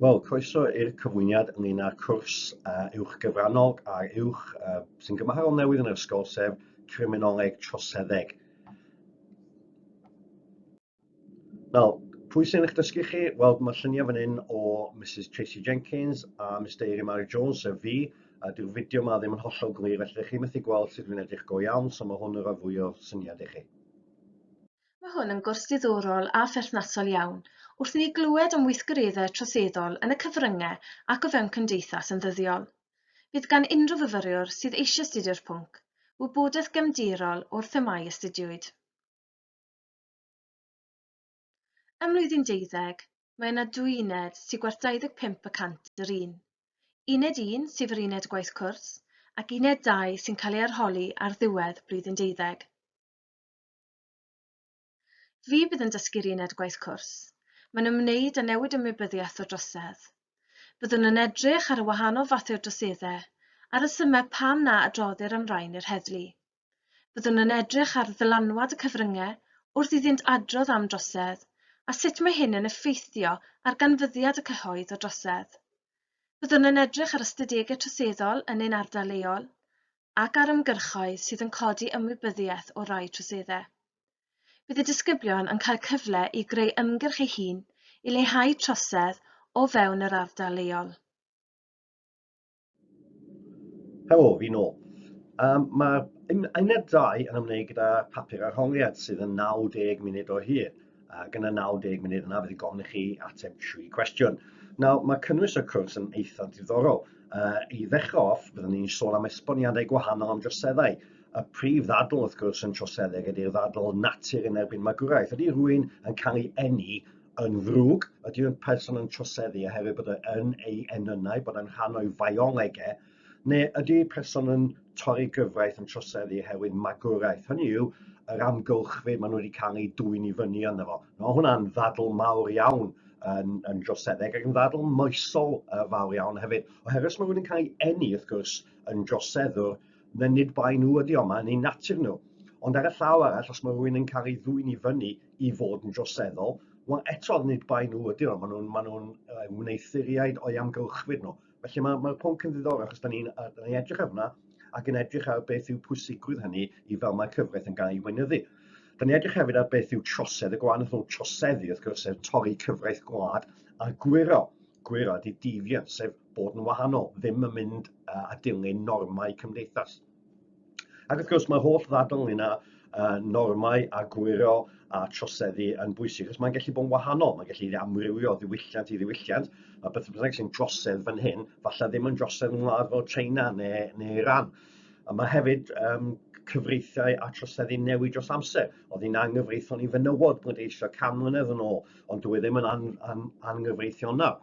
Wel, croeso i'r cyfwyniad ynglyn â'r cwrs uh, uwch gyfrannog a'r uwch uh, sy'n gymharol newydd yn yr ysgol, sef Criminoleg Troseddeg. Wel, pwy sy'n eich dysgu chi? Wel, mae lluniau fan hyn o Mrs Tracy Jenkins a Mr Eiri Mary Jones, sef fi, a dyw'r fideo yma ddim yn hollol glir, felly chi methu gweld sut dwi'n edrych go iawn, so mae hwn yn rhoi fwy o syniad i chi. Mae hwn yn gwrs ddiddorol a pherthnasol iawn wrth i ni glywed am weithgareddau troseddol yn y cyfryngau ac o fewn cymdeithas yn ddyddiol. Bydd gan unrhyw fyfyriwr sydd eisiau astudio'r pwnc, wybodaeth gefndirol o'r themâu astudiwyd. Ym mlwyddyn deuddeg, mae yna dwy uned sy'n gwerth 25 y cant yr un. Uned 1, sef yr uned gwaith cwrs, ac uned 2 sy'n cael ei arholi ar ddiwedd blwyddyn deuddeg. Fi fydd yn dysgu'r uned gwaith cwrs. Mae'n ymwneud â newid ymwybyddiaeth o drosedd. Byddwn yn edrych ar y wahanol fathau o droseddau a rhesymau pam na adroddir am rain i'r heddlu. Byddwn yn edrych ar ddylanwad y cyfryngau wrth iddynt adrodd am drosedd a sut mae hyn yn effeithio ar ganfyddiad y cyhoedd o drosedd. Byddwn yn edrych ar ystadegau troseddol yn ein ardal leol ac ar ymgyrchoedd sydd yn codi ymwybyddiaeth o rai troseddau. Bydd y disgyblion yn cael cyfle i greu ymgyrch ei hun i leihau trosedd o fewn yr ardal leol. Helo, fi nôl. Um, Mae'r uned 2 yn ymwneud gyda papur arholiad sydd yn 90 munud o hyd. ac yn y 90 munud yna bydd yn gofyn i chi ateb tri cwestiwn. Nawr, mae cynnwys y cwrs yn eitha diddorol. Uh, I ddechrau off, byddwn ni'n sôn am esboniadau gwahanol am droseddau. Y prif ddadl, wrth gwrs, yn troseddeg ydy'r ddadl natur yn erbyn magwraeth. Ydy rwy'n yn cael ei enni yn ddrwg? Ydy'r person yn troseddu oherwydd bod e yn ei enynau, bod e'n rhan o'i faiolegau, Neu ydy person yn torri gyfraith yn troseddu oherwydd magwraeth? Hynny yw, yr amgylchfyd maen nhw wedi cael eu dwy'n i fyny ynddo fo. Mae hwnna'n ddadl mawr iawn yn, yn droseddeg ac yn ddadl moesol uh, fawr iawn hefyd. Oherwydd os mae rhywun yn cael ei enni, wrth gwrs, yn droseddwr, na nid bai nhw ydi o, mae'n ei natur nhw. Ond ar y llaw arall, os mae rhywun yn cael ei ddwy'n i fyny i fod yn droseddol, wel eto nid bai nhw ydy nhw, maen nhw'n ma nhw, uh, wneud thuriaid o'i amgylchfyd nhw. Felly mae'r mae pwnc yn ddiddorol achos da ni'n ni edrych arno ac yn edrych ar beth yw pwysigrwydd hynny i fel mae cyfraith yn gael ei weinyddu. Da ni'n edrych hefyd ar beth yw trosedd, y gwahanol rhwng troseddu wrth gwrs sef torri cyfraith gwlad a gwyro. Gwyro ydy deviant sef bod yn wahanol, ddim yn mynd a dilyn normau cymdeithas. Ac wrth gwrs, mae holl ddadl ynglyn â uh, normau a gwyro a troseddu yn bwysig, achos mae'n gallu bod yn wahanol, mae'n gallu amrywio o ddiwylliant i ddiwylliant, a beth bynnag sy'n drosedd fan hyn, falle ddim yn drosedd yn wlad fel China neu, neu Iran. A mae hefyd um, cyfreithiau a troseddu newid dros amser. Oedd hi'n anghyfreithiol i fenywod bod eisiau can mlynedd yn ôl, ond dwi e ddim yn an, an, angyfreithiol nawr.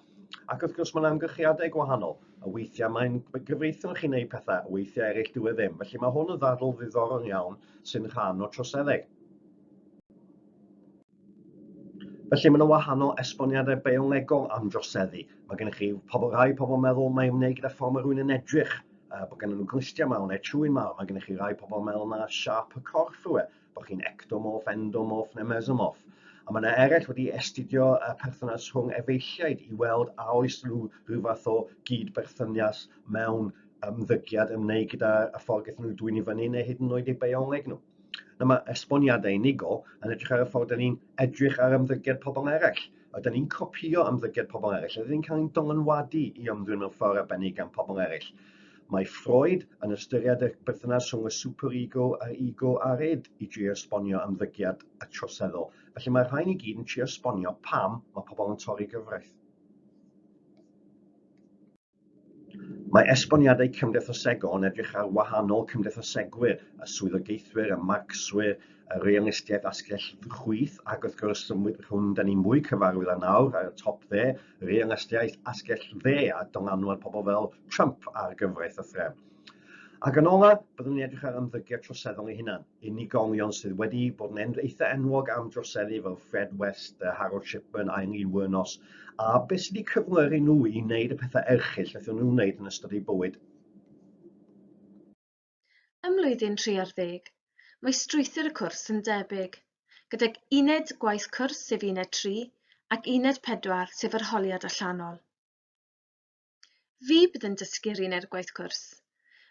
Ac wrth gwrs mae'n amgylchiadau gwahanol. A weithiau mae'n gyfreithiol chi'n neud pethau, weithiau eraill dyw e ddim. Felly mae hwn yn ddadl ddiddorol iawn sy'n rhan o troseddau. Felly mae yna wahanol esboniadau biolegol am droseddu. Mae gennych chi pobl rhai pobl meddwl mae ymwneud gyda ffordd mae rhywun yn edrych, uh, bod gennym nhw glustiau mawr neu trwy'n mawr. Mae gennych chi rhai pobl meddwl na siap y corff yw e. bod chi'n ectomorph, endomorph neu mesomorph. A mae yna eraill wedi astudio y perthynas rhwng efeilliaid i weld a oes nhw rhyw fath o gyd-berthynias mewn ymddygiad ymwneud gyda y ffordd gaethon nhw dwy'n i fyny neu hyd yn oed eu bioleg nhw. Dyma mae esboniadau unigol yn edrych ar y ffordd dyn ni'n edrych ar ymddygiad pobl eraill. A dyn ni'n copio ymddygiad pobl eraill, a dyn ni'n cael ein dylanwadu i ymddwyn mewn ffordd arbennig gan pobl eraill. Mae Freud yn ystyried y berthynas rhwng y superego a'r ego ar id i drio esbonio ymddygiad y troseddol. Felly mae'r rhain i gyd yn trio esbonio pam mae pobl yn torri gyfraith. Mae esboniadau cymdeithasegol yn edrych ar wahanol cymdeithasegwyr, y swyddogaethwyr, y Marcswyr, y realistiaeth asgell chwith, ac wrth gwrs, rhwng da ni mwy cyfarwydd â nawr ar y top dde, realastiaeth asgell dde a dylanwad pobl fel Trump ar gyfraith a threfn. Ac yn ola, byddwn ni'n edrych ar ymddygiad troseddol ei hunan, unigolion sydd wedi bod yn eitha enwog am droseddu fel Fred West, Harold Shipman, Eileen Wuornos, a beth sydd wedi cyflwyr nhw i wneud y pethau erchill wnaethon nhw wneud yn ystod eu bywyd. Ym mlwyddyn tri ar ddeg, mae strwythur y cwrs yn debyg, gydag uned gwaith cwrs sef uned 3 ac uned 4 sef yr holiad allanol. Fi bydd yn dysgu'r uned gwaith cwrs.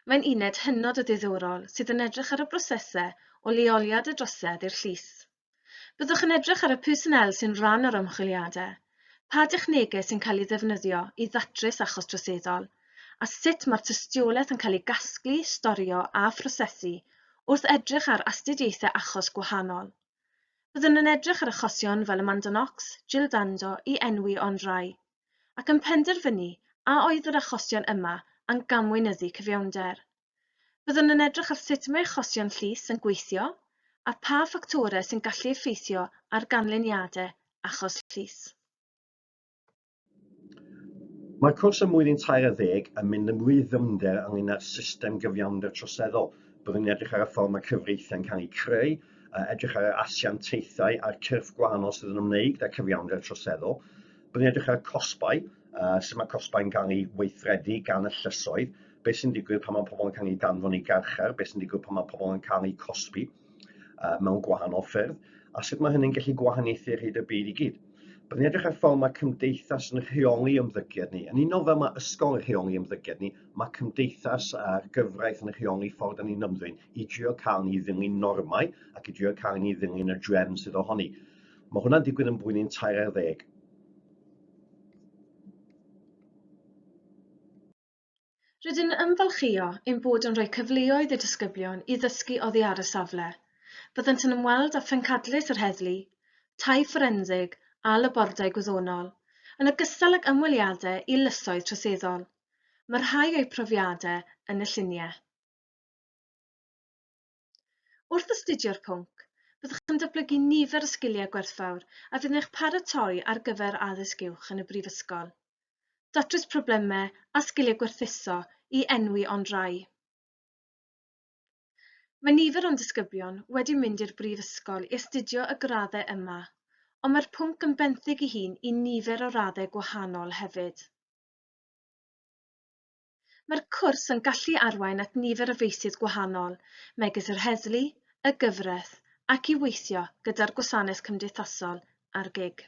Mae'n uned hynod o ddiddorol sydd yn edrych ar y brosesau o leoliad y drosedd i'r llys. Byddwch yn edrych ar y personnel sy'n rhan o'r ymchwiliadau, pa dechnegau sy'n cael ei ddefnyddio i ddatrys achos troseddol, a sut mae'r tystiolaeth yn cael ei gasglu, storio a phrosesu wrth edrych ar astudiaethau achos gwahanol. Byddwn yn edrych ar achosion fel Amanda Knox, Jill Dando i enwi ond rai, ac yn penderfynu a oedd yr achosion yma a'n gamweinyddu cyfiawnder. Byddwn yn edrych ar sut mae achosion llys yn gweithio a pha ffactorau sy'n gallu effeithio ar ganlyniadau achos llys. Mae'r cwrs ym mlwyddyn tair ar ddeg yn mynd yn fwy ddyfnder ynglŷn â'r system gyfiawnder troseddol. Byddwn yn edrych ar y ffordd mae cyfreithiau'n cael eu creu, a edrych ar yr asiantaethau a'r cyrff gwahanol sydd yn ymwneud â cyfiawnder troseddol. Byddwn yn edrych ar y cosbau, uh, sut mae cosbau'n cael eu weithredu gan y llysoedd, beth sy'n digwydd pan mae pobl yn cael eu danfon i garchar, beth sy'n digwydd pan mae pobl yn cael eu cosbi uh, mewn gwahanol ffyrdd, a sut mae hynny'n gallu gwahaniaethu ar hyd y byd i gyd. Byddwn ni'n edrych ar ffordd mae cymdeithas yn rheoli ymddygiad ni. Yn unol fel mae ysgol yn rheoli ymddygiad ni, mae cymdeithas a'r gyfraith yn rheoli ffordd yn ni'n ymddwyn i drio cael ni ddilyn normau ac i drio cael ni ddilyn y drefn sydd ohoni. Mae hwnna'n digwydd yn blwyddyn 13. Rydyn yn ymfalchïo ein bod yn rhoi cyfleoedd i disgyblion i ddysgu oddi ar y safle. Byddant yn ymweld â phrencadlys yr heddlu, tai fforensig a labordai gwyddonol, yn ogystal ag ymweliadau i lysoedd troseddol. Mae rhai o'u profiadau yn y lluniau. Wrth astudio'r pwnc, byddwch yn datblygu nifer o sgiliau gwerthfawr a fydd yn eich paratoi ar gyfer addysg uwch yn y brifysgol. Datrys problemau a sgiliau gwerthuso i enwi ond rai. Mae nifer o'n disgyblion wedi mynd i'r brifysgol i astudio y graddau yma, ond mae'r pwnc yn benthyg i hun i nifer o raddau gwahanol hefyd. Mae'r cwrs yn gallu arwain at nifer o feysydd gwahanol, megis yr heddlu, y gyfraith, ac i weithio gyda'r gwasanaeth cymdeithasol a'r gig.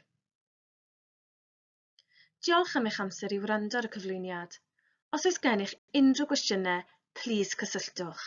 Diolch am eich amser i wrando ar y cyflwyniad. Os oes gennych unrhyw gwestiynau, plîs cysylltwch.